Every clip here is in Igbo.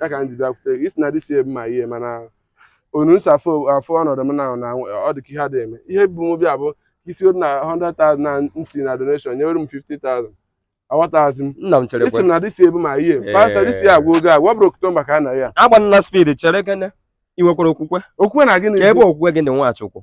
ya ka m ji bịakwute gị ị sị na this year bụ my year mana otu m si afụ afụ ọnọdụ m na na ọ dị ka ihe adịghị eme ihe bu m bịa bụ i si na 100,000 m si na donation nyewere m 50,000 aghọtazi m nna m chere ị sị m na this year bụ my year Ee. pastọ this year agwụ oge agwa bụrụ oktomba ka a nọ year agbana speed cherekene i nwekwara okwukwe okwukwe na gịnị ka ebe okwukwe gị dị nwachukwu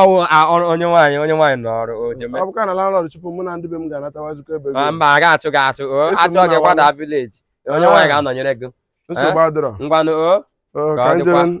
ọwụ a- ọrụ onye nwaanyị onye nwaanyị nọ ọrụ o jeme ọ bụkwa na landlord chụpụ mụ na ndị be m ga-anatawazikwa ebe Ma mba a ga-achụ gị achụ o Eso m achụọ gị na kwada wala. village onye nwaanyị Ah. ga-anọnyere gị nsogbu adịrọ ngwanụ o Ọ, Ka ka ọ anyị dịkwa. jebe